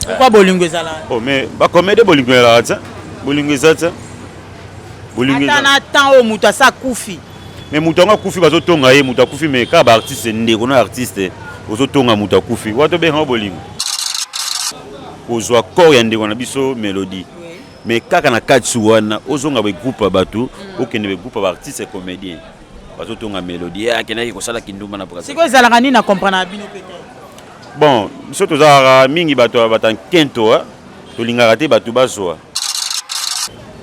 pourquoi bolingo ezala oh mais ba comédie bolingo ezala te bolingo eza te bolingo eza na temps oyo moto asa kufi mais moto yango akufi bazotonga ye moto akufi mais kaka baartiste ndeko na artiste ozotonga moto akufi wana tobengaka bolingo kozwa corps ya ndeko na biso melodie mais kaka na kati wana ozonga begroupe ya bato mm. okende begroupe ya baartiste comédien bazotonga melodie akendaki kosala kindumba na sikoyo ezalaka nini na comprendre na bino peut-être Bon, biso tozalaka mingi bato ya bata nkento, tolingaka te bato bazwa.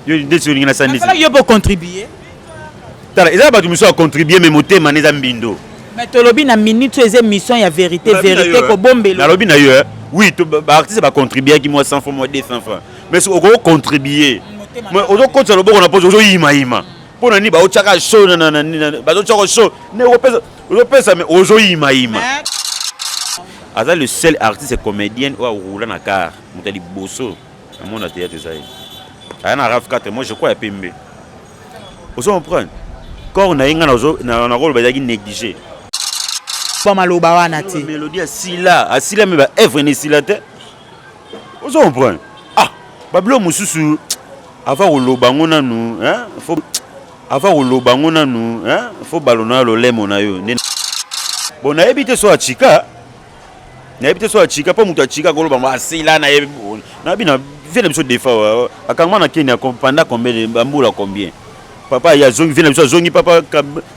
Yo ndeti olingi na sani ndeti. Yo po contribuer. Tala, eza bato misusu ya contribuer mais motema neza mbindo. Mais tolobi na minute oyo eza émission ya vérité, vérité kobombelo. Nalobi na yo, oui, ba artistes ba contribuer ki moi 100 francs, moi 200 francs. Mais okoki contribuer. Mais ozo kotisa loboko na pozo ozo yima yima. mpo na nini baotyaka so bazotyaka so nde ozopesa me ozoyimayima aza le seul artiste comédienne oyo aroula na car moto ya liboso na mona théâtre eza ye aya na raf 4 moi je crois ya pembe ozo comprendre corps na ye ngai nakoloba ezalaki négligé mpo maloba wana te melodi asila asila me baevre na esila te ozo comprendre ah babilo mosusu ava koloba yango nanu fo ava koloba yango nanu fo balo na yo lolemo na yo nde bon nayebi te so achika nayebi te so achika mpo moto achika akoloba ngo asila na ye nayebi na vie na biso defa akangama na kenya panda combien bambula combien papa ye azongi vie na biso azongi papa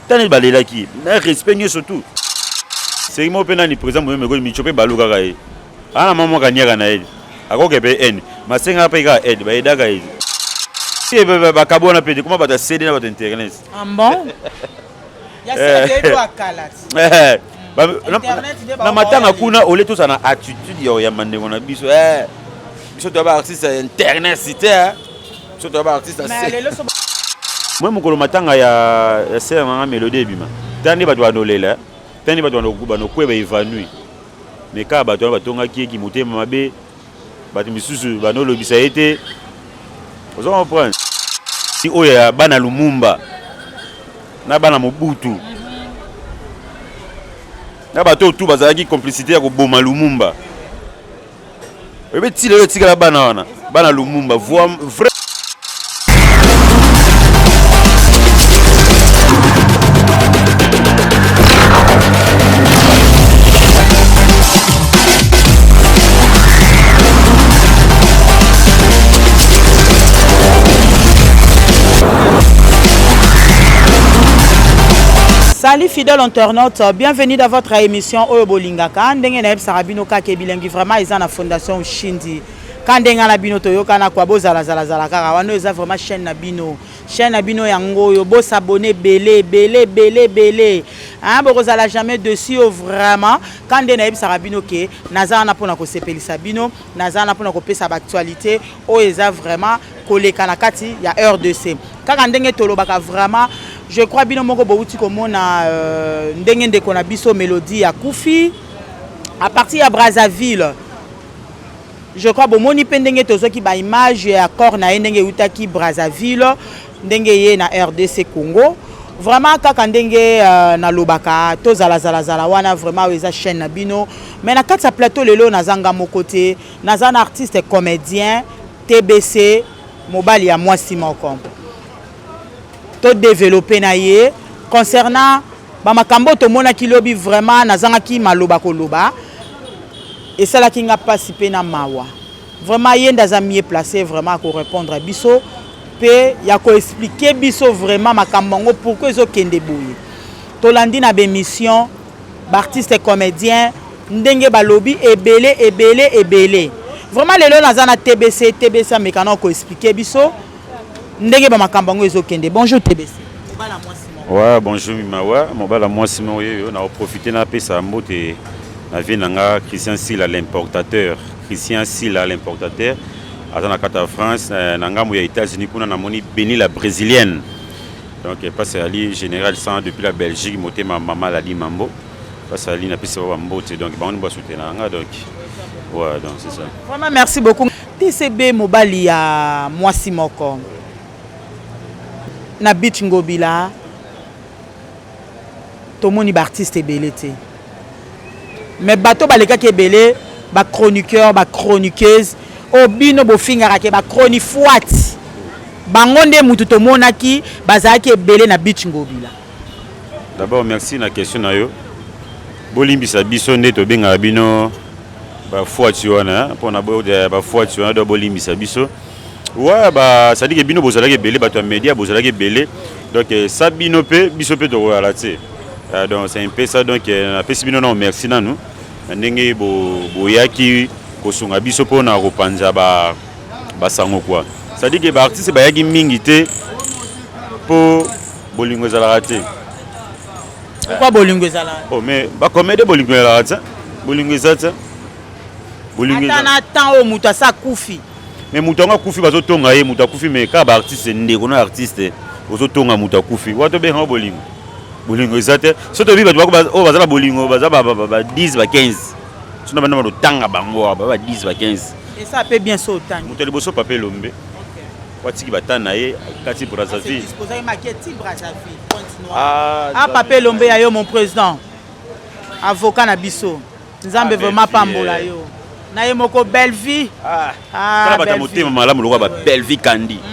tani balelaki na respect nyonso tout seki moko mpe nani président moyomekoli mico mpe balukaka ye Ana mama kanyaka na yeli. Akoke pe eni. Masenga pe ka aide ba edaka yeli. Ye ba ba kabona pe kuma bata CD na bata internet. Ah bon? Ya eh. CD do akala. Eh. Ba na matanga kuna ole to sana attitude ya ya mandengo na biso. Eh. Biso to ba artiste ya internet site. Eh. Biso to ba artiste ya. Mais lelo so Moi mokolo matanga ya ya sœur na nga Melodie ebima. Tande bato banolela. Tande bato banokuba nokueba evanouie. Mais kaka bato wana batongaki ye kimotema mabe, bato misusu banolobisa ye te, ozo comprendre? Si oyo ya bana Lumumba na bana Mobutu na bato oyo tout bazalaki complicité ya koboma Lumumba. Oyebi ti lelo etikala bana wana bana Lumumba voix vrai Salut fidèle internaute, bienvenue dans votre émission Oyo Bolingo. Ngaka ndenge nayebisaka bino kaka ebilengi vraiment eza na fondation Shindi ka ndenge na bino toyokana kwa bozala zala zala kaka wana eza vraiment chaîne na bino chaîne na bino yango oyo bosabone ebele ebele ebele ebele hein bokozala jamais dessus oyo vraiment ka nde nayebisaka bino ke naza wana mpona kosepelisa bino naza wana mpona kopesa baactualité oyo eza vraiment koleka na kati ya rdc kaka ndenge tolobaka vraiment je crois bino moko bowuti komona euh, ndenge ndeko na biso melodie ya kufi à partir ya brazzaville je crois bomoni mpe ndenge tozwaki baimage ya corps na ye ndenge eutaki brazzaville ndenge ye na rdc congo vraiment kaka ndenge uh, nalobaka tozalazalazala wana vraiment oyo eza chaîne na bino mais na kati ya plateau lelo naza nga moko te naza na artiste comédien TBC mobali ya mwasi moko to developper na ye concernant ba makambo tomonaki lobi vraiment nazangaki maloba koloba esalaki nga pasi pe na mawa vraiment ye nde aza mieux place vraiment ako répondre biso pe ya ko expliquer biso vraiment makambo yango pourquoi ezokende boye tolandi na ba émission Ba artistes comediens ndenge balobi ebele ebele ebele vraiment lelo naza na TBC TBC ameka na ko expliquer biso ndenge ba makambo yango ezokende. Bonjour TBC. Mobala mwasi moko. Ouais, bonjour Mimawa, mobala mwasi moko yeyo na profiter na pesa mbote na vie na nga Christian Sila l'importateur. Christian Sila l'importateur aza na kata France na ngambo ya États-Unis kuna namoni Beni la brésilienne. Donc pasi ali general sans depuis la Belgique motema mama lali mambo pasi ali na pisi ba mbote donc bango ba soutenir nga donc ouais donc c'est ça. Vraiment merci beaucoup. TCB mobali ya mwasi moko na beach ngobila tomoni ba artiste ebele te. mais bato balekaki ebele ba chroniqueur ba chroniqueuse oyo oh, bino bofingaka ke ba chronifuati bango nde mutu tomonaki bazalaki ebele na beach ngobila d'abord merci na question na yo bolimbisa biso nde tobengaka bino bafuati wana mpona bafuati wana do bolimbisa biso wa basadike bino bozalaki ebele bato ya media bozalaki ebele donc sa bino mpe biso mpe tokoyala te Ah, donc c'est un peu ça donc euh, napesi bino nao merci nanu na ndenge boyaki kosunga biso mpo na kopanza basango kua cestadire ke baartiste bayaki mingi te mpo bolingo ezalaka te pourquoi bolingo ezalaka oh, mais bakomede bolingo ezalaka te bolingo eza te ata na temps oyo moto asi akufi mais moto yango akufi bazotonga ye moto akufi mais kaka baartiste ndeko na artiste ozotonga moto akufi wato obengaka bolingo bolingo eza te so toyebi bato oyo baza na bolingo baza ba 10 ba 15 sino banda batotanga bango awa ba 10 ba 15 esa mpe bien so otangi moto ya liboso papa elombe watiki bata na ye kati brazzaville ah, ah, papa elombe ya yo mon président avocat na biso Nzambe ah, vraiment pambola eh. yo. Na ye moko Bellevue. Ah. Ah. Kala bata motema malamu lokola ba Bellevue Kandi. Mm -hmm.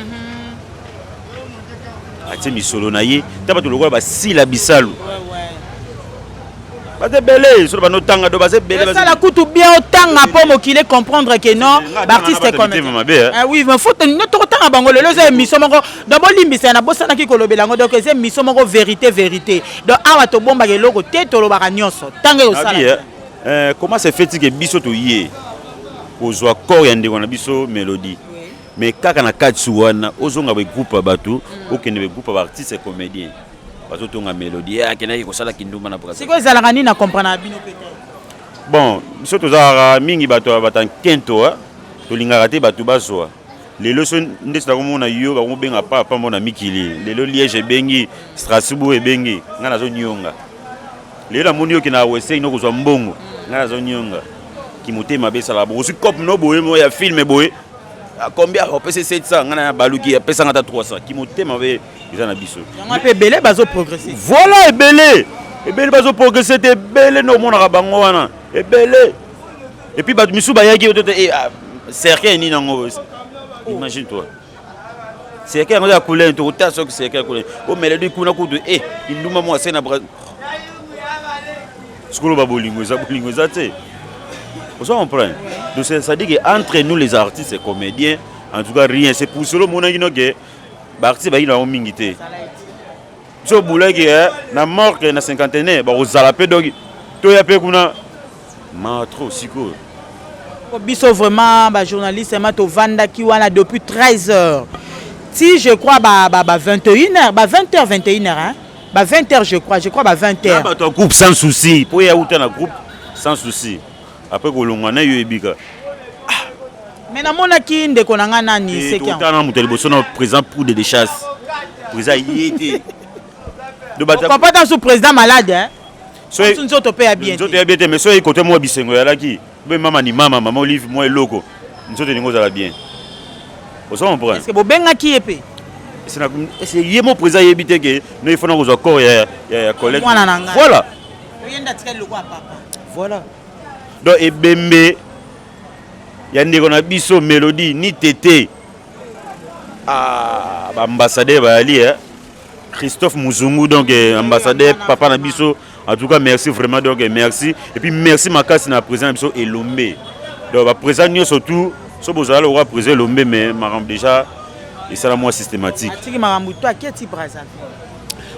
Atie misolo na ye, ta bato lokola ba Sila Bisalu. Ouais, ouais. Baza ebele, solo bano tanga do baza ebele. Baza la kutu bien otanga po mokile comprendre que non, l'artiste comme. Hein. Ah oui, mais faut no toko tanga bango lelo za émission moko. Donc bolimbisa na bosanaki kolobela ngo donc eza émission moko vérité vérité. donc awa tobombaka eloko te tolobaka nyonso ntango ekosala eh, eh, comment se fait que biso toye kozwa corps ya ndeko na biso melodie mais kaka na kati wana ozonga begroupe ya bato mm. okende begroupe ya baartiste ya comédien bazotonga melodie eh, akendaki kosala kindumba na sikoyo ezalaka nini na comprendre na bino mpe bon biso tozalaka mingi bato ya batankinto tolingaka te bato bazwa lelo so ndeti nakomona yo bakobenga papa pambo na mikili lelo liège ebengi strasbourg ebengi ngai nazonionga lelo namoni yoki na weseng nokozwa mbongo ngai nazonionga kimotema mabe esala bo ozwi cope no boye mo ya filme boye ah, combien opesi 700 ngai na baluki apesanga ata 300 kimotema mabe eza na biso yango mpe ebele bazoprogresse voilà ebele ebele bazoprogresse te ebele nde omonaka bango wana ebele Et puis bato misusu bayaki oto eh ah, cercueil nini yango boye. Imagine toi. Cercueil yango ya couleur to kota soki cercueil ya couleur. O melodi kuna kutu eh kinduma mwa sena bra. Sikolo ba bolingo eza bolingo eza te. Vous comprenez Donc c'est-à-dire que entre nous les artistes et comédiens, en tout cas rien, c'est pour cela mon agino que ba artistes ba ina mingi te. So boulaki eh na mort que na cinquantenaire ba kozala pe donc to ya pe kuna Mawa trop sikoyo. Ko biso vraiment ba journaliste vraiment tovandaki wana depuis 13 heures. Si je crois ba ba, ba 21 heures, ba 20 heures 21 heures hein. Ba 20 heures je crois, je crois ba 20 heures. Ba to groupe sans souci. Po ya uta na groupe sans souci. Après ko longwa na yo ebika. Mais na mona ki ndeko na nga nani c'est qui? Tana moto liboso na présent pour de chasse. Présent yete. Papa ta sous président malade hein. soki nzoto mpe ya bien nzoto ya bien te mais soki kote mwa bisengo yalaki be mama ni mama mama olive mwa eloko nzoto elingi ozala bien ozo comprendre est-ce que bobengaki ye mpe ese ye mo président ayebi te ke no il faut na kozwa corps ya ya collègue mwana na ngai voilà oyenda atikali loko ya papa voilà donc ebembe ya ndeko na biso melodie ni tete ah, baambassadeur bayali eh? Christophe Muzungu donc eh, ambassadeur papa na biso en tout cas merci vraiment donc eh, merci et puis merci makasi na président na biso Elombe donc ba président nyonso tout so bozala lokola président Elombe mais makambo déjà esala mwa systématique atiki makambo to aketi brazzaville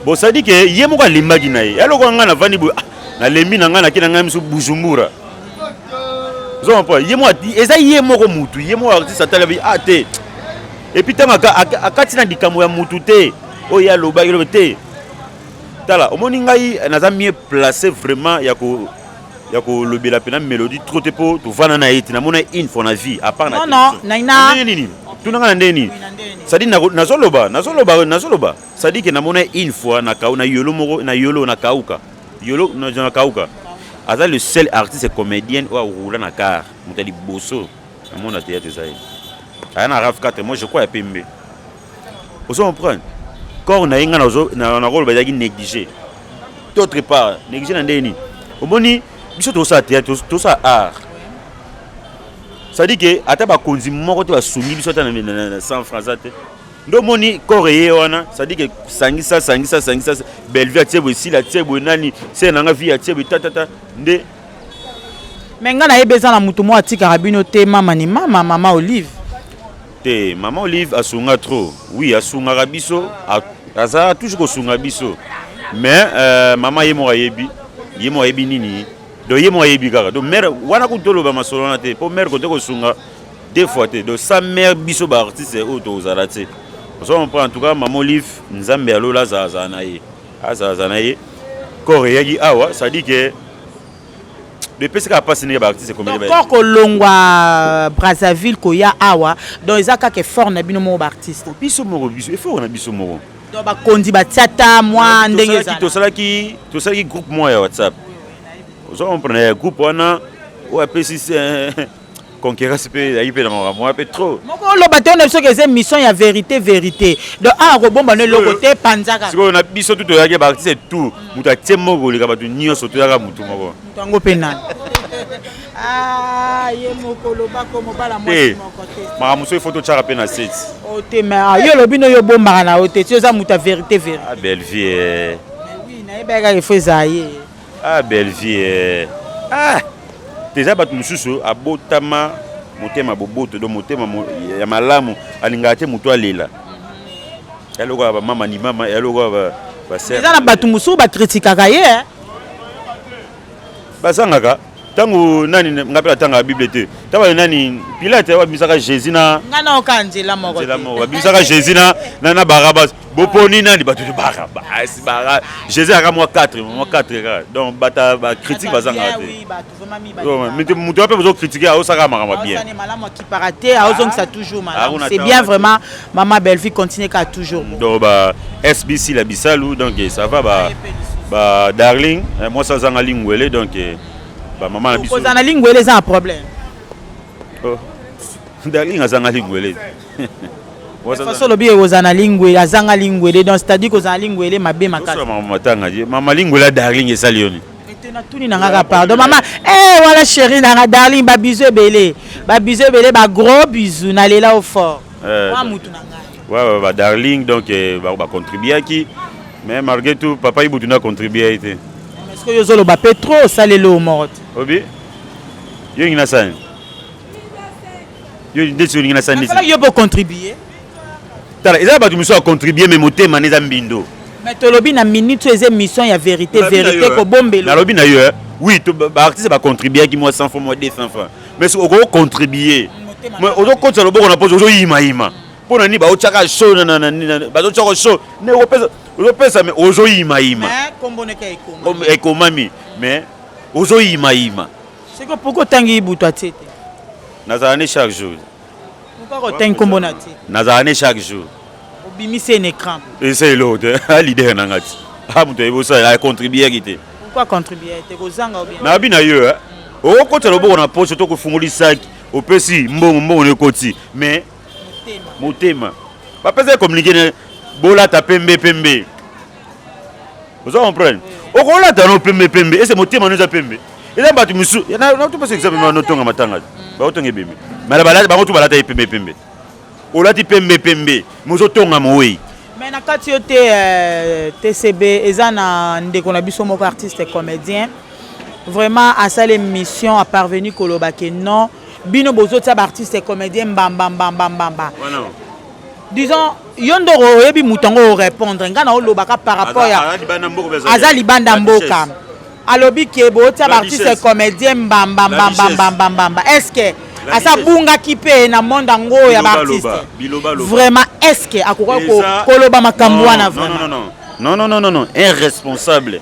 bon ça dit que ye moko alembaki na ye ya lokola ngai navandi boye ah, nalembi na ngai nake na ngai miso bujumbura ozomapa ye moko eza ye moko mutu ye moko artiste atalabi ah te Et puis ntango akati na likambo ya mutu te oyo ye alobaki lobe te tala omoni ngai naza mieux placé vraiment ya ko ya kolobela mpena mélodie trop te mpo tovanda na ye te namona une fois na vie apart nandenge nini tuna ngai na ndenge nini sadi nazoloba nazoloba nazoloba sadi ke namona une fois na kau na yolo moko na yolo na kauka yolo na kauka aza le seul artiste comédienne oyo aroula na car moto ya liboso Na mona te yate zaye. Aya na raf 4 moi je crois ya pembe. Ozo comprendre? Corps na inga na zo na na rôle bazaki négliger. D'autre part, négliger na ndeni. Omoni biso to sa théâtre, to sa art. Ça dit que ata ba konzi moko te ba sungi biso ata na 100 francs ate. Ndo moni corps eye wana, ça dit que sangisa sangisa sangisa Bellevue atie boye, Sila atie boye, nani, c'est nanga vie atie boye, ta ta ta. Nde me ngai nayebi eza na motu moko atikaka bino te mama ni mama mama olive te mama olive asunga trop wi asungaka biso azalaka toujours kosunga biso mais euh, mama ye moko ayebi ye moko ayebi nini donc ye moko ayebi kaka donc mare wana kutu toloba masolo wana te mpo mare kote kosunga deux fois te donc sa mare biso baartiste oyo tokozala te ozo comprendre en tout cas mama olive nzambe ya lola azalazala na ye azaza na ye kor eyaki awa sadi ke epesi kaka mpasi ndenge baartiste komekor kolongwa brazzaville koya awa donc eza kaka effort na bino moko baartiste biso moko biso effort na biso moko donc bakonzi batia ta mwa ndenge ezalaki tosalaki tosalaki groupe moko ya whatsapp ozo comprendre ya groupe wana oyo apesi concurrence mpe ezalaki mpe na makambo wana mpe trop moko oloba te na biso ke eza émission ya vérité vérité donc awa kobomba no eloko te panzaka sikoyo na biso tu toyaki baartiste tout moto atie moko koleka bato nyonso toyaka motu moko moto yango mpe nani ah, ye moko lobako mobala mwasi moko te makambo mosusu ifo totyaka mpe na seti o oh, te ma ah, yo olobi no yo obombaka na yo te ti oza moto ya vérité vérité ah, bellevie eh. nayebaka kaka ifo ezala ye Ah Bellevue eh. Ah teza bato mosusu abotama motema boboto do motema ya malamu alingaka te moto alela yalokola bamama ni mama yalokola eza na bato mosusu bakritikaka ye eh. bazangaka ntango nani ngai mpe natangaka bible te ntango baye nani pilate babimisaka jésus na ngai naoka nzela moko babimisaka jésus na barabas boponi nani bato libaka basi bara jesus aka mwa 4 mwa 4 kaka donc bata bacritique bazanga te moto wape bozokritike aosaka makambo bien c'est bien vraiment mama bellevue continue kaka toujours donc ba sbc la bisalu donc eh, ça va ba ba darling eh, mwasi azanga lingwele donc eh, bamama na biso kozala na lingwele eza na problème Oh. Darling azanga ligwele. façon olobi ekozala na lingwele azanga lingwele donc c'est-à-dire kozala lingwele mabe makasi mama lingwele ya darling esali yo nini natuni na ngaka pardon mama eh wana chéri na nga darling babizu ebele babizu ebele bagros bizu nalela o fort eh, wa mutu na ngai badarling donc eh, bacontribuaki mais malgré tout papa ibutu na contribue ye te soki ozoloba mpe trop osaleli omoro te obi Yo olingi na sani? Yo ndeti olingi na sani ndeti? Asalaki yo mpo contribuer. Tala, eza bato mosusu ya contribuer mais motema na eza mbindo. Mais tolobi na minute eza émission ya vérité, vérité kobombelo. Nalobi na yo, oui, ba artistes ba contribuaki moi 100 francs, moi 200 francs. Mais si oko contribuer, mais ozo kotsa loboko na pozo ozo yima yima. Mpo na nini baotyaka so bazotyaka so ne ozopesa me ozoyimayima ekomami mais Ozo yima yima. Siko pourquoi tangi ibutu atiete? Nazala ne chaque jour. Pourquoi ko tangi kombo na atiete? Nazala ne chaque jour. Obimisi un écran. Esa elo te. A leader na ngati. A mutu ebo sa a contribuer kite. Pourquoi contribuer te ko zanga obimisi? Na bina yo eh. Okokota loboko na poche to kofungoli saki opesi mbongo mbongo na ekoti mais motema bapesa ye communiqué bolata pembe pembe oza comprendre okolata no pembe pembe ese motema no eza pembe eza bato mosusu natopesa exemple ma notonga matanga mm. baotonga ebembe mala balati bango tu balata ye pembe pembe olati pembe pembe mozotonga mowei mais na kati yo te euh, tcb eza na ndeko na biso moko artiste comédien vraiment asala émission aparvenu koloba ke non bino bozotia baartiste comédien mbambambambambamba disons yo nde oyebi moto yango orépondre ngai naolobaka par rapport ya aza libanda mboka alobi ke bootya baartiste comédien mbamba mbamba mbamba mbamba est ce que asa abungaki mpe na monde yango oyo ya baartiste vraiment est ce que akoka koloba makambo wana vraiment non non non non un responsable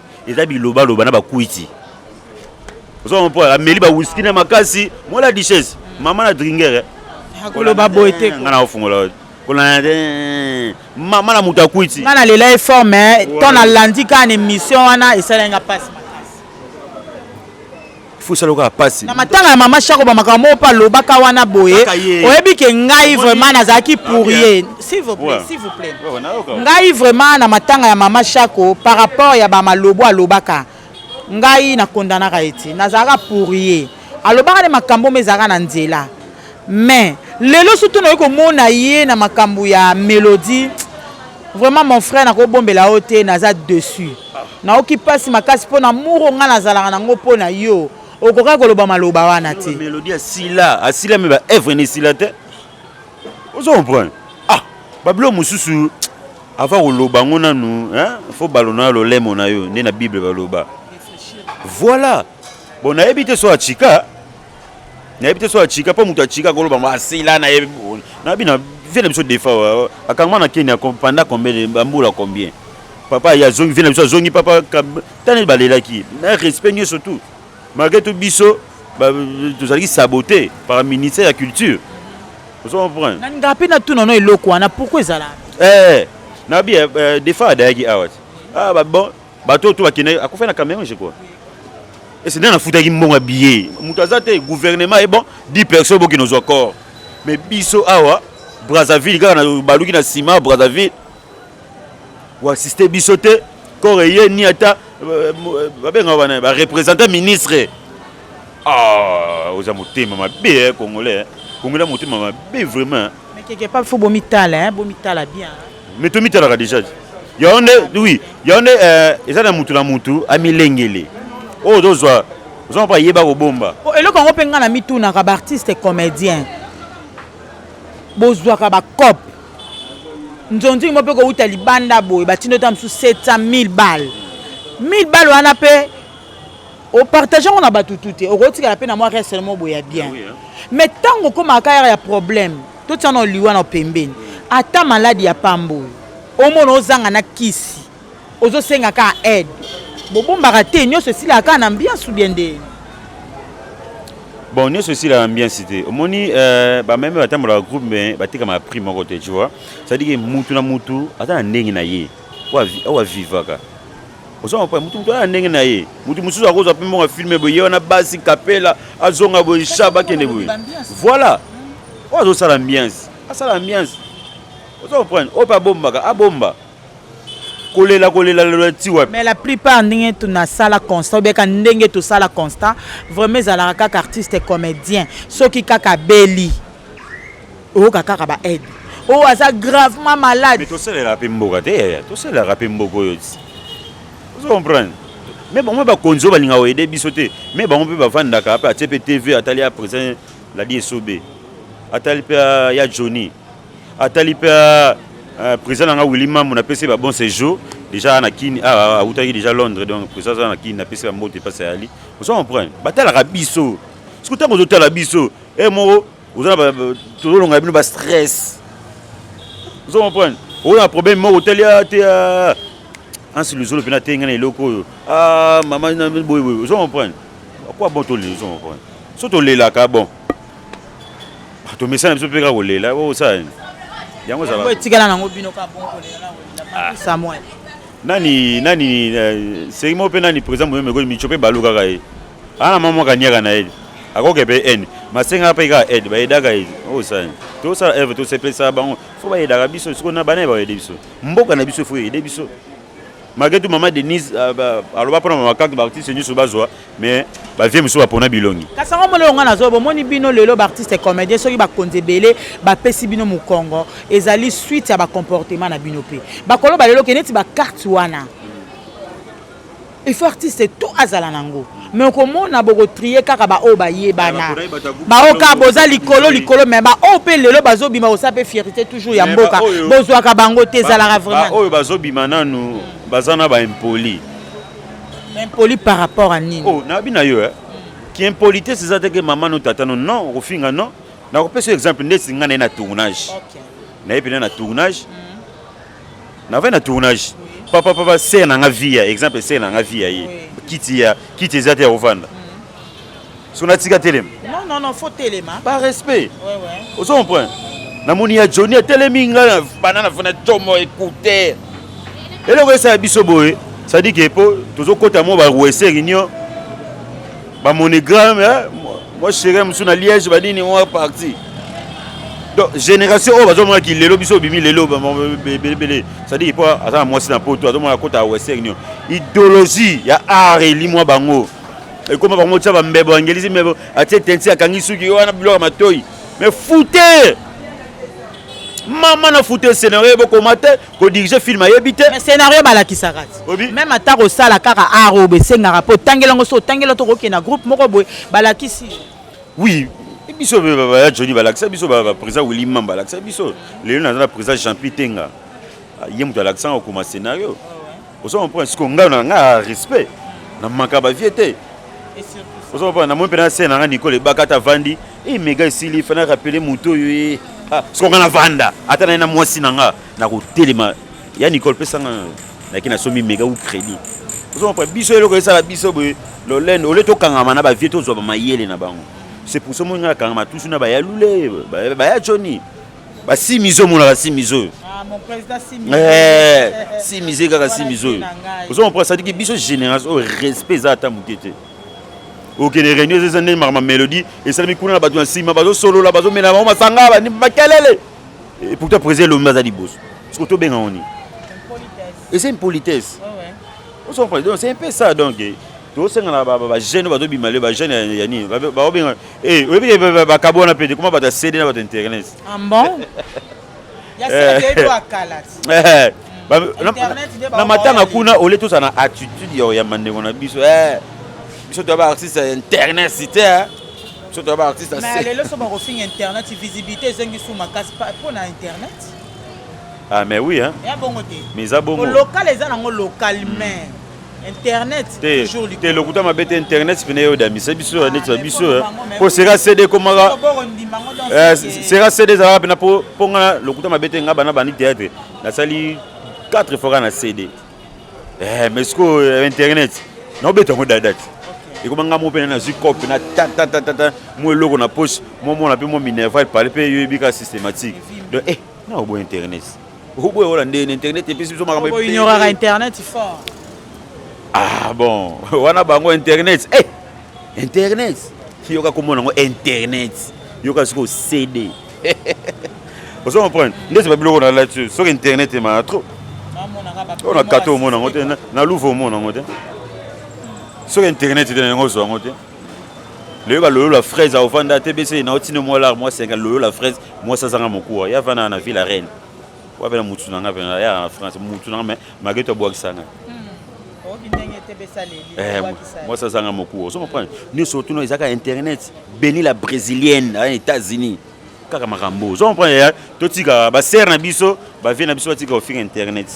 eza bilobaloba na bakwiti ozoma mpo ameli bawiski na makasi mola duchesse mama na dringer eh. akoloba boye te ngai naofungola kolanda te mama na moto akwiti ngai nalela ye fort mais to nalandi kaka na émission wana esalai nga mpasi fusaloka pasi na matanga ya mama shako ba makambo moko mpe alobaka wana boye oyebi ke ngai vraiment nazalaki pour ye s'il vous plaît s'il vous plaît ngai vraiment na matanga ya mama shako par rapport ya bamalobo alobaka ngai nakondanaka ye te nazalaka pour ye alobaka nde makambo omo ezalaka na nzela mais lelo surtout nayoki komona ye na makambo ya melodie Vraiment mon frère nakobombela yo te naza dessus. Naoki pasi makasi mpo na muro ngai nazalaka nango mpo na yo. Okokaki koloba maloba wana te. Melodie asila, asila mais ba œuvre ne sila te. Ozo comprendre? Ah, ba bilo mosusu avant koloba ngo nanu, hein, faut balona na lolemo na yo nde na Bible baloba. Voilà. Bon nayebi te so achika. nayebi te so achika mpo moto achika koloba asila ah, nayebi nayebi na vie na biso defa akangama na kenya panda combien bambula combien papa ye azongi vie na biso azongi papa tani balelaki na respect nyonso tout malgré tout biso tozalaki sabote par ministère ya culture ozo comprendre na ngai mpe natuna no eloko wana pourkoi ezalaka eh, nabi eh, eh, defa adayaki awa ah, bon bato oyo to bakendaki akufai na cameron je crois ese nde nafutaki mbongo ya billet moto aza te gouvernement ye bon 10 personnes bokino zwa corps mais biso awa brazzaville kaka na baluki na nsima brazzaville oassiste biso te corps eye ni ata euh, euh, babengaka bana bareprésentant ministre ah, oza motema mabe eh, congolais eh. congolais motema mabe vraiment keke pa fo bomitala bomitala bien mais tomitalaka déjà yango nde oui yango nde euh, eza na mutu na mutu amilengele oyo oh, tozwa ozwa mpo ayeba kobomba oh, eloko yango mpe ngai na mitunaka baartiste comédien bozwaka bacope nzonzingi mo mpe kowuta libanda boye batindo ta mosusu 700 1000 balle 1000 balle wana mpe opartage yango na bato tu te okotikala mpe na mwa reste mo boye ya bien mais ntango okomaka yaka ya problème totia na liwa na pembeni ata maladi ya pamba oyo omona ozanga na kisi ozosenga kaka aide bobombaka te nyonso esilaka kaka na ambiance bien nde bon nyonso esilaka ambiance te omoni euh, bameme batambolaka groupe me batekamaka prix moko te tu vois cestadire mutu na mutu ata na ndenge na ye oyo avivaka oza mapa mutu mutu aya ndenge na ye mutu mosusu akozwa mpe mbongo ya filme boye ye wana basi kapela azonga boye shaba akende boye voilà oyo azosala ambiance asala ambiance oza comprendre oyo mpe abombaka abomba kolela kolela lela ti wapi mais la plupart ndenge tunasala constat obeka ndenge tosala constat vraiment ezalaka kaka artiste comédien soki kaka beli oyoka kaka ba aide oyo oh, aza gravement malade mais tosalelaka mpe mboka te yaya tosalelaka mpe mboka oyo ti ozo comprendre mais bango mpe bakonzi oyo balingaka koyede biso te mais bango mpe bavandaka mpe atie mpe tv atali ya président ladi esobe atali mpe ya johnny atali mpe euh, président na nga willi mambo napesi ba bon séjour déjà na kini ah, awutaki déjà londres donc président aza na kini napesi bambote mpasi ayali ozo comprendre batalaka biso soki ntango ozotala biso e eh, moko oza na tozolonga bino bastress ozo comprendre oyo na problème moko otali te ansi luzolo mpena te ngai na eloko oyo ah, mama boyeboye ozo comprendre akwa bon toleli ozo comprendre so tolelaka bon ah, tomesana biso mpe kaka kolela osala nini yango ezalaetikala nango bino kaka bon kolela ah. nani nani eh, seki moko mpe nani président moyemekoli mico mpe balukaka ye ana mama kanyaka na ye akoke mpe ene masenga mpe kaka aide bayedaka ye osani oh, tosala eve tosepelisa bango fo bayedaka biso sikoyo na bana ye bayede biso mboka na biso fo eyede biso malgré tout mama denise euh, bah, aloba mpona mama karte baartiste nyonso bazwa mais bavie mosusu bapona bilongi kasi yango molelo ngai nazwa bomoni bino lelo baartiste comédien soki bakonzi ebele bapesi bino mokongo ezali suite ya bacomportement na bino mpe bakoloba lelo ke neti bacarte wana il faut artiste tout azala nango me okomona bokotrie kaka baoyo bayebana baoyo kaka boza likolo likolo me baoyo mpe lelo bazobima kosala mpe fierité toujours ya mboka bozwaka bango te ezalaka vraimentbaoyo bazobima nanu baza na baimpoli impoli par rapport a nini oh, nabi na yo eh? kiimpolitesse eza teke mama no tata no non okofinga non nakopesa yo exemple ndeti ngai naye na tournage naye mpena na tournage mm. na vai na tournage papa papa sere na nga via exemple sere na nga via ye kiti ya kiti eza te ya kovanda mm. so natika telema non non non faut telema par respect ouais ouais ozo comprendre namoni ya Johnny atelemi nga bana na fana tomo écouter eloko esala biso boye c'est-à-dire que po tozokota mo ba ruese réunion Ba monogramme hein? Moi chérie musu na Liège ba nini moi parti. Donc génération oyo bazomona ki lelo biso bimi lelo belebele. Ça dit pas aza mwasi na poto azomona kota ya western nio. Idéologie ya art eli mwa bango. Ekoma bango tsa ba mbebo angelizi mbebo atie tensi akangi suki wana biloko matoi. Mais foutez mama na foute scenario ebokoma te ko diriger film ayebi te mais scénario balakisaka même ata kosala kaka art oyo esengaka mpo otangela yango so otangela to kokende na groupe moko boye balakisi oui biso ya joni balakisa biso baprésident willi mam balakisa biso lelo naza na président jean pi tenga ye moto alakisanga okoma scénario ozo comprendre siko ngai na nga respect na manka ba vie te ozo comprendre na moi pena se na nga Nicole bakata vandi et mega esili fana rappeler moto yo e ah, siko nga na vanda ata na na mwasi na nga na ko telema ya Nicole pesa nga na ki na somi mega ou crédit ozo comprendre biso eloko esala biso boye lolendo ole to kangama na ba vie to zwa ba mayele na bango c'est pour ça moi nga kangama tous na ba ya lule ba ya Johnny ba simizo monaka simizo oyo simize kaka simize oyo ozo comprendre sadiki biso génération oyo respect eza ata moke te okende réunion eza eza ndenge makama mélodie esalami kuna na bato na nsima bazosolola bazomela bango masanga bandi makelele pourtant président elombi aza liboso siko tobenga ngo nini eza impolitesse ozo comprendre donc c'est un peu ça donc tosenga na bajeune bazo bima le bajeune ya nini baobenga eh, oyebi eh, bakabo wana mpe koma bato ya cd na bato internet ah, eh, na matanga kuna ole tozala na attitude ya oyamba ndeko na biso biso toya baartiste ya internet site biso toya baartiste lelo so bakofinga internet visibilité ezongi su makasi mpo na internet ah mais oui hein. ya bongo te mais eza bongo local eza nango local mais internet te te lokuta mabe te internet pene yo damisa biso ya neti ya biso eh. po sera cd ekomaka eh, sera cd ezalaka pena po nga lokuta mabe te nga bana bandi théâtre nasali 4 fois na cd eh, mais sikoyo euh, internet naobeta yango dadate ekoma nga mo mpe nazwi cop na tatatata mo eloko na poche momona mpe mo minerval pale mpe yo ebika systématique donc eh naoboya internet Oboye wala nde na internet epesi biso makambo Obo ignoraka internet fort. Ah bon, wana bango internet. Eh, hey, internet. Yoka komona ngo internet. Yoka siko CD. Ozo comprendre? Nde c'est pas biloko na lati. Soki internet est ma trop. On a kato mona ngote na louvo mona ngote. Soki internet est na ngozo ngote. Loyoka loyo la fraise au vanda TBC na otino moi lar moi senga loyo la fraise moi ça zanga mokuwa ya vana na ville reine wa bela mutu na nga bela ya na France mutu na mais mageto bwa kisanga eh, moi ça zanga mokuwa ozo comprendre ni surtout no ezaka internet béni la brésilienne aux États-Unis kaka makambo ozo comprendre totika ba sœur na biso ba vie na biso batika ofinga internet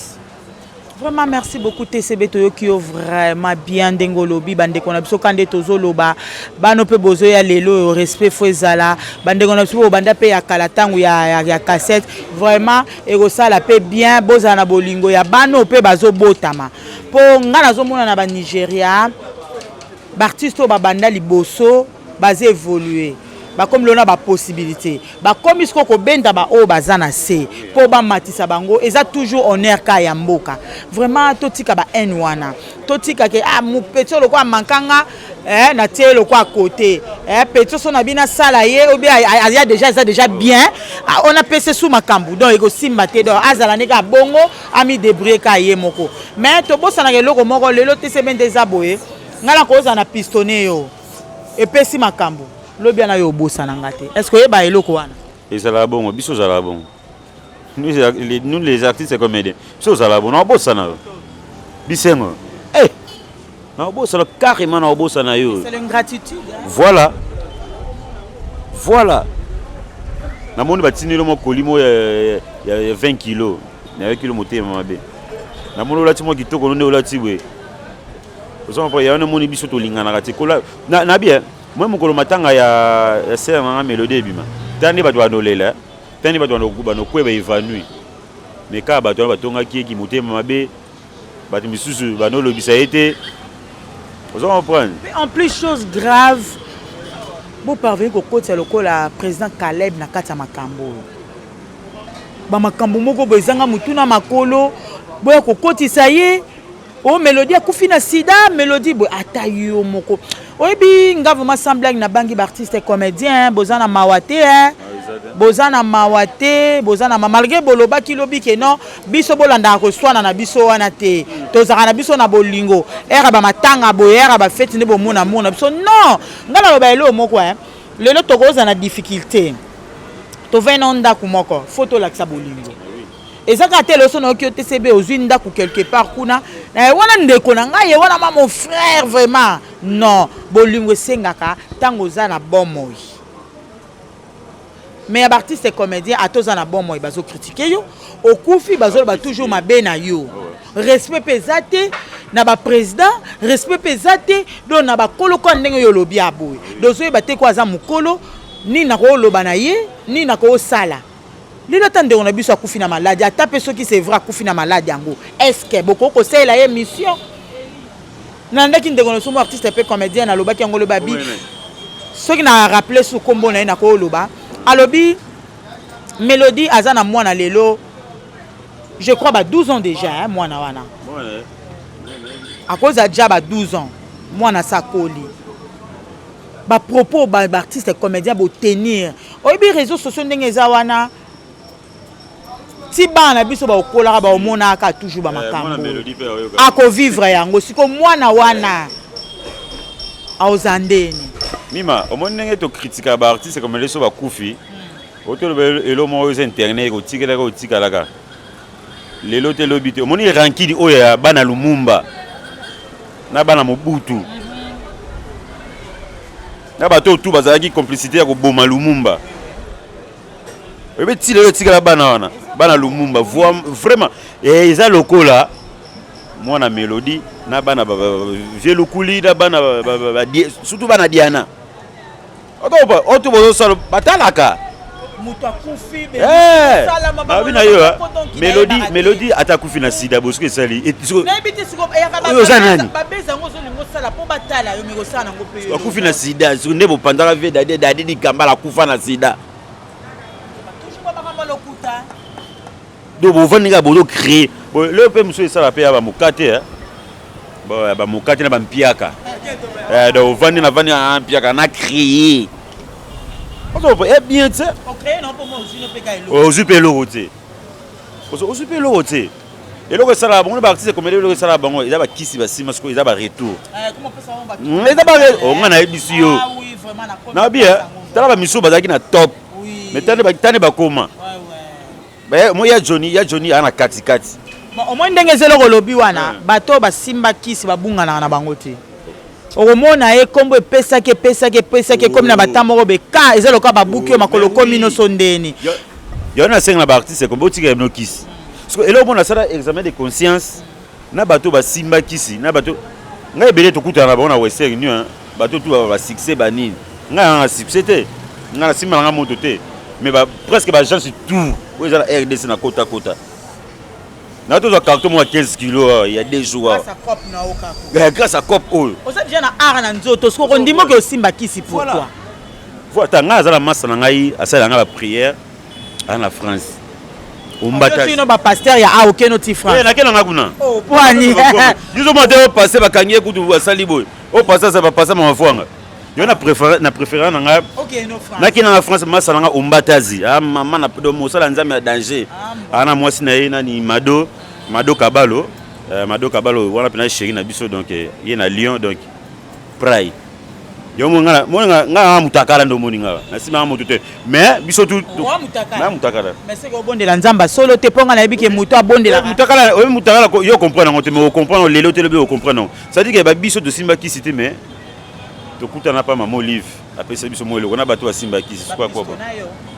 Vraiment merci beaucoup TCB toyoki yo vraiment bien ndenge olobi bandeko na biso kande tozoloba bano mpe bozoya lelo oyo respect fo ezala bandeko na biso bobanda mpe ya kala ntango ya, ya, ya cassette vraiment ekosala mpe bien bozala na bolingo ya bano mpe bazobotama mpo ngai nazomona na banigeria baartiste oyo babanda liboso Baza evolue bakomi lona ba possibilité bakomi siko kobenda baoyo baza na se mpo bamatisa bango eza toujours honneur ka ya mboka vraiment totika ba haine wana totika ke ah, petit oyo lokola amankanga eh, natie ye lokola kote eh, petit oso na bino asala ye obi aya deja eza deja bien ah, on apese su makambo donc ekosimba te donc azala ndenge abongo amidebrie ka ye moko mais tobosanaka eloko moko lelo tcb nde eza boye ngai nakozala na pistone yo epesi makambo lobi wana yo obosana nga te est ce que oyeba eloko wana ezalaka bongo biso ozalaka bongo nous les artistes comédien biso ozalaka bongo naobosana yo bisengo eh! naobosana carrément naobosana yo voilà voilà namoni batindeli mwa kolimo ya 20 kilo nayoki lo motema mabe namoni olati mwa kitoko nonde olati boye oza comprendre ya wana emoni biso tolinganaka te kola na na bien moi mokolo matanga ya ya sœur na nga Melodie ebima tala nde bato banolela tala nde bato banokweba evanouir mais kaka bato wana batongaki ye kimotema mabe bato misusu banolobisa ye te oza comprendre mais en plus chose grave boparveni kokotisa lokola président caleb na kati ya makambo oyo bamakambo moko boye ezanga motuna makolo boya kokotisa ye o oh, melodi akufi na sida melodi boye ata yo moko oyebi nga vraimen sans blague nabangi baartiste comédien boza na mawa te eh? boza na mawa te boza na ma malgré bolobaki lobi ke non biso bolandaka koswana na biso wana te tozalaka na biso na bolingo ere bamatanga boye ere bafeti nde bomona mur na biso non ngai naloba eloo moko eh? lelo tokozala na difficulté tovai na ndako moko fo tolakisa bolingo eza kaka te loso nayoki yo tcb ozwi ndako quelque part kuna na ye wana ndeko na ngai ye wana ma mon frère vraiment non bolingo esengaka ntango oza na bomoi mais ya baartiste comédien ata oza na bomoi bazokritike yo okufi bazoloba toujours mabe na yo respect mpe eza te na baprésident respect mpe eza te donc na bakolo kwa ndenge yo olobi aboye dozoyeba te ko aza mokolo nini nakoloba na ye nini nakosala Lelo ata ndeko na biso akufi na maladi, ata mpe soki c'est vrai akufi na maladi yango, est-ce que bokoki kosalela ye mission? Nalandaki ndeko na biso mwa artiste mpe comedien, nalobaki yango loba bi soki na rappeler su kombo na ye nakoloba, alobi Melodie aza na mwana lelo je crois ba 12 ans déjà hein, mwana wana akozala déjà ba 12 ans mwana sakoli bapropos baartiste comédien botenir oyebi réseau sociaux ndenge eza wana ti bana na biso baokolaka baomonaka toujours bamakambo eh, akovivre yango siko mwana wana aoza ndeni mima omoni ndenge tokritika baartiste koma leso bakufi hmm. otoloba elo moko eza internet kotikelaka otikalaka lelo te lobi te omoni rankini oyo ya bana lumumba na bana mobutu hmm. na bato oyo tu bazalaki complicité ya koboma lumumba oyebi ti lelo etikala bana wana bana lumumba vraiment eh, eza lokola mwana melodi na bana vie lukuli na bana surtout bana diana oto bozosala batalaka moto akufi eh, babi na yo ah. melodi melodi ata akufi na sida bosuku esali eh, oyo oza nani akufi na sida soki nde bopandaka vie dadi dadi likambala akufa na sida donc bovandi kaka bozo créer leo mpe mosusu esala mpe ya bamokate eh. bamokate na bampiaka eh, donc ovandi na vandi na ah, mpiaka na créer eh, bien te ozwi mpe eloko te ozwi mpe eloko te eloko esalaka bango baartiste ekomeli eloko esalaka bango eza bakisi basima sikoyo eza baretour hmm, eza onga nayebisi yo nabi tala bamisu bazalaki na top mais tani bakoma Moi ya Johnny, ya Johnny ana kati kati. Bon, au moins ndenge zelo ko lobi wana, hmm. bato ba simba kisi ba bunga na bango te. okomona ye nkombo epesaki epesaki epesaki ekomi na bata moko beka eza lokola babuki yo makolo okomi nyonso ndeni yo nasenga na baartiste kombo otika ebino kisi eloko mpo nasala examen de conscience na bato basimba kisi na bato ngai ebele tokutana na bango na western union bato tu ba succès ba nini ngai nanga succès te ngai nasimba nanga moto te mais ba, presque baagence tout oyo eza na rdc na kota kota na tozwa carton moko ya 15 kilo awa ya deux jours awa grâce à cop oyo oza deja na art na nzoto soki okondima oke osimba kisi pourquoi voilà ta ngai aza na masa na ngai asalela ngai baprière Aza na France. Ombata. Sino ba pasteur ya awo keno ti France. Eh nakena nga kuna. Oh, pwani. Biso mwa te o passer bakangi kutu basali boye. O passer sa ba passer mama fwanga. Yo na préfère na préfère na nga. Okay, no France. Nakena na France masala nga ombatazi. Ah maman na pedo mosala nzambe ya danger. Ah, Ana mwasi na ye nani Mado, Mado Kabalo. Euh, Mado Kabalo wana pena chérie na biso donc eh, ye na Lyon donc Pride. yo omoni nga moni nga nga nga mutakala ndo omoni nga na sima nga moto te mais biso tu Wa mutakala. na mutakala Mais c'est qu'on bondela nzamba solo te ponga na yebi ke moto abondela. mutakala oyo mutakala ko- yo comprendre yango te mais ocomprendre lelo te lobi ocomprendre yango c'est-à-dire que ba biso tosimba kisi te mais tokutana pa mama olive apesa biso mwa eloko na bato basimba kisi suka koba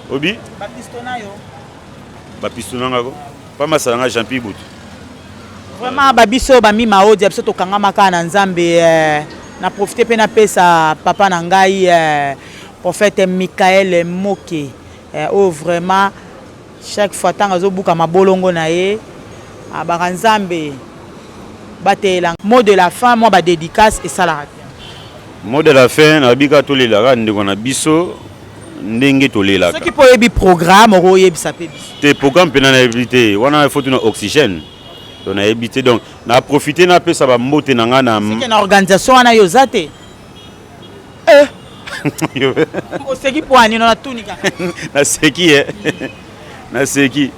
obi Bapisto na yo. bapisto nanga ko Pa masala nga Jean Pierre Ibutu. Vraiment ba biso ba mi maodia biso tokangama kaka na Nzambe eh, na profiter mpe napesa papa na ngai eh, prophète Michael Moke eh, oyo oh, vraiment chaque fois ntango azobuka mabolongo na ye abaka ah, Nzambe bateyela mot de la fin mwa badédicace esalaka te mot de la fin nabika tolelaka ndeko na biso ndenge tolelaka soki mpo oyebi programme oko oyebisa mpe biso te programme mpena nayebi te wana il faut tuna oxygène to nayebi te donc na profite napesa bambote na ngai na seke na organisation wana yo oza te eh. oseki mpo anino natuni kaka naseki e naseki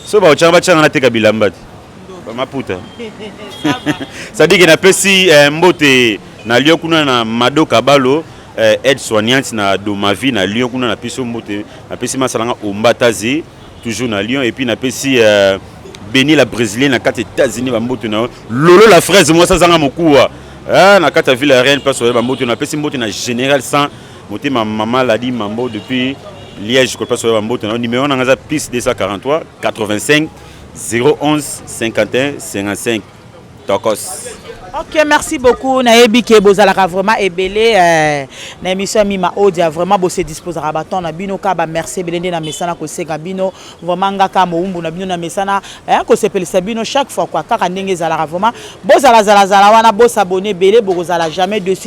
so baotyanga batyanga nateka bilamba te bamaputa sadike napesi eh, mbote na lio kuna na mado kabalo eh, aide soignante na Domavi na Lyon kuna na piso mbote na pesi masala nga Ombata ze toujours na Lyon et puis na pesi euh, Beni la brésilienne na kati États-Unis ba mbote na Lolo la fraise moi ça zanga mokuwa ah na kati ville reine pas sur ba mbote na pesi mbote na général 100 motema mama ladi mambo depuis Liège kolpa soya bamboto na numéro na nga eza plus 243 85 011 51 55 Tokos. Ok, merci beaucoup. Nayebi ke bozalaka vraiment ebele euh, na émission Mima Odia vraiment bo se disposer à baton na bino ka ba merci ebele nde na mesana ko seka bino vraiment ngaka moumbu na bino na mesana hein ko sepelisa bino chaque fois quoi kaka ndenge ezalaka vraiment bozala zala zala wana bo s'abonner ebele boko zala jamais dessus